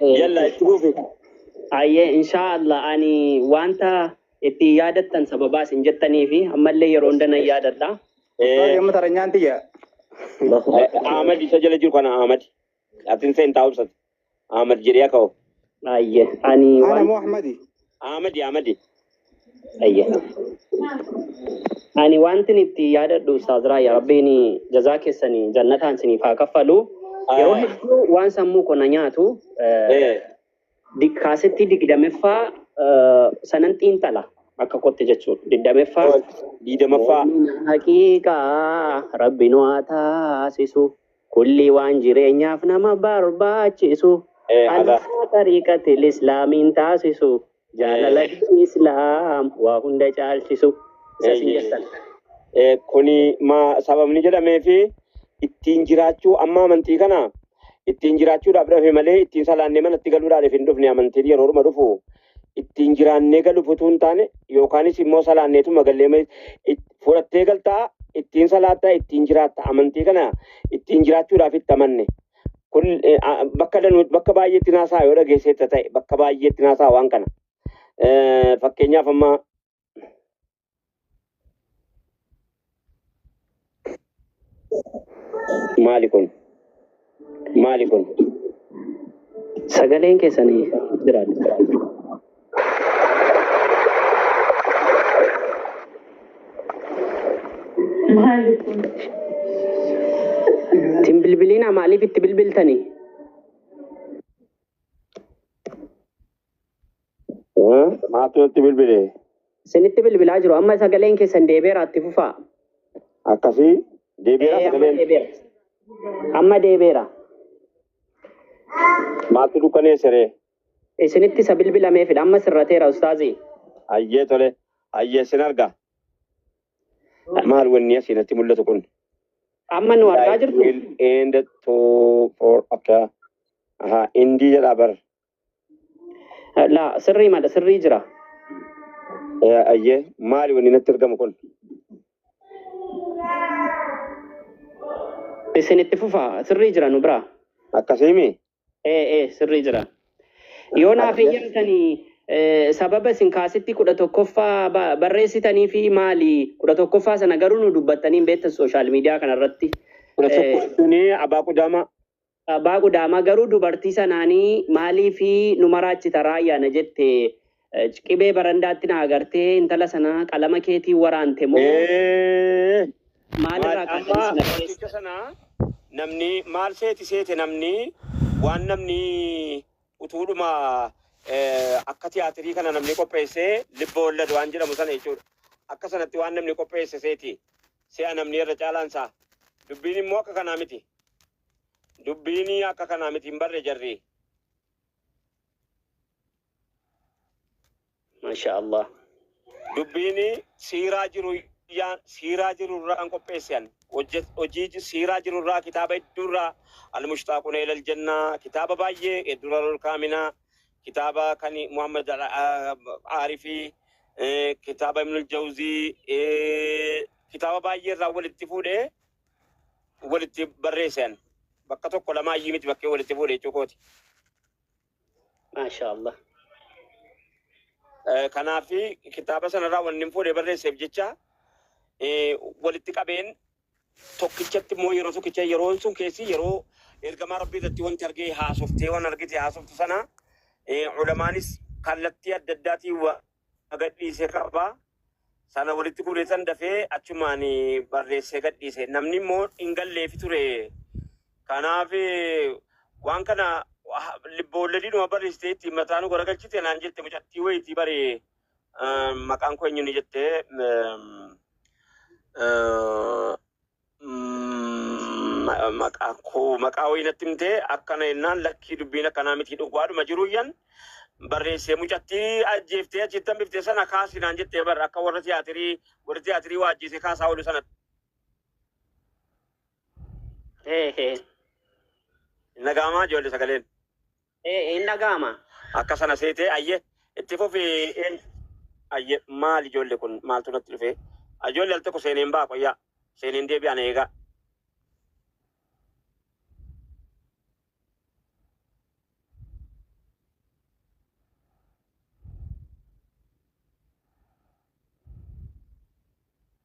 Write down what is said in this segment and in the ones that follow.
Yalla itti fufi. Ayyee inshaa Allah ani wanta itti yaadattan sababaa isin jettanii fi ammallee yeroo hunda nan yaadadha. Ustaaz yamma taranyaan tiyya. Ahmad isa jala jiru kana Ahmad. Atin seen taa'umsat. Ahmad jedhee akka hoo. Ayyee ani Ana waan moo Ahmadi? Ahmadi Ahmadi. Ayyaana. Ani wantin itti yaadadhu Ustaaz Raayyaa Rabbiin jazaa keessanii jannataan isiniif haa kaffalu. Yeroo Ah. hedduu waan sammuu koo na nyaatu eh, Eh, di- kaasettii digdamaffaa eh, sanan xiinxala akka kootti jechuudha. Digdamaffaa oh, diidamaffaa. Mu'min haqiiqaa rabbi nu haa taasisu kulli waan jireenyaaf nama barbaachisu Eh, ala. alaa xariiqatil islaamiin taasisu Jaalala diin islaam waa hunda caalchisu isa sin jettan. Kuni maa sababni jedhameefi ittiin jiraachuu amma amantii kana ittiin jiraachuudhaaf dhafe malee ittiin salaannee manatti galuudhaaf hin dhufne amantiin yeroodhuma dhufu ittiin jiraannee galuuf utuu hin taane yookaanis immoo salaanneetuma gallee fudhattee galtaa ittiin salaattaa ittiin jiraatta amantii kana ittiin jiraachuudhaaf itti amanne kun eh, a- bakka danu bakka baay'eetti naasaa yoo dhageesseetta ta'e bakka baay'eetti naasaa waan kana Eh, fakkeenyaaf amma maali kun maali kun Sagaleen keessanii jiraadha. Maali kun? Tin bilbiliina maaliif itti bilbiltani? Maatu natti bilbile. Isinitti bilbilaa jiru. Amma sagaleen keessan deebi'eera itti fufaa. Akkasii deebi'eera Ee, amma sagaleen. deebi'eera. Amma deebi'eera. Maaltu dukkaneessere? Isinitti isa bilbilameefidha amma sirrateera ustaazii. Hayyee tole hayyee sin arga. Maal wanni asii natti mul'atu kun? Amma nu argaa Life jirtu will end to for akka aha indii jedha bar la sirrii madha sirrii jira. Eh, ayyee maali wanni natti argamu kun? Isinitti fufa sirrii jira nu biraa. Akkasiimi Ee, ee, sirrii jira. Yoo naaf Ayyee. eeyyamtanii eh, sababa isin kaasitti kudha tokkoffaa ba- barreessitanii fi maali kudha tokkoffaa sana garuu nu dubbattanii hin beektan sooshaal miidiyaa kanarratti. Kudha Eh, tokko suni abaa qudaama. Abbaa Gudaamaa garuu dubartii sanaanii maalii fi nu maraachita raayyaana jette Ecc qibee barandaatti na agartee intala sana qalama keetiin waraante moo Ee, maal irraa maal kaatanii amma sana fakkicha barreessitan? sana namni maal seeti seete namni waan namni utuudhuma eh, akka tiyaatirii kana namni qopheessee libba wallad waan jedhamu sana jechuudha. Akka sanatti waan namni qopheesse seeti si'a namni irra caalaan isaa. Dubbiin immoo akka kanaa miti. Dubbiin akka kanaa miti hin barre jarri. Masha Allah. Dubbiini siiraa jiru yaan siiraa jiru irraan qopheesse an. Hojje- Hojii ji- siiraa jiru irraa kitaaba hedduu irraa Al-Mushtaaquna Ilal Jannaa kitaaba baay'ee eh, Durarul Kaaminaa kitaaba kan Muhammad Al- ah, Aarifii eh, kitaaba Ibnul Jawzii eh, kitaaba baay'ee irraa walitti fuudhee walitti barreessan bakka tokko lamaa iyyii miti bakkee walitti fuudhe jechuu kooti. Maashaa Allah. Eh, Kanaaf kitaaba sanarraa wanni hin fuudhe barreesseef jecha eh, walitti qabeen tokkichatti immoo yeroo tokkicha yeroon sun keessi yeroo ergamaa rabbii irratti wanti argee haasoftee waan argite haasoftu sana eh, ulamaanis kallattii adda addaatiin wa- na gadhiise qaba. Sana walitti guureetan dafee achumaan barreessee gadhiise. Namni immoo hin galleefi ture. Kanaaf waan kana libboolledidhuma barreessitee ittiin mataa nu garagalchite naan jette mucattii wayitii bari maqaan koo eenyuun jette maqaa wayii natti himtee akkana jennaan lakkii dubbiin akkanaa miti dhugaadhuma jiruuyyan barreessee mucattii ajjeeftee achitti hambifte sana kaasi naan jettee barra akka warra tiyaatirii warri tiyaatirii waa ajjeese kaasaa oolu sana nagaamaa ijoollee sagaleen. Ee hin dhaga'ama. Akka sana seete ayye itti fufi in ayye maal ijoolle kun maaltu natti dhufe ajoolle al tokko seeneen ba'a qoyyaa seeneen deebi'a na eegaa.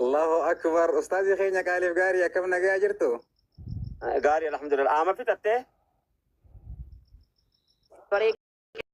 Allahu akbar ustaazii keenya qaaliif gaarii akkam nagaa jirtu? Gaarii alhamdulillah. Aama fixattee?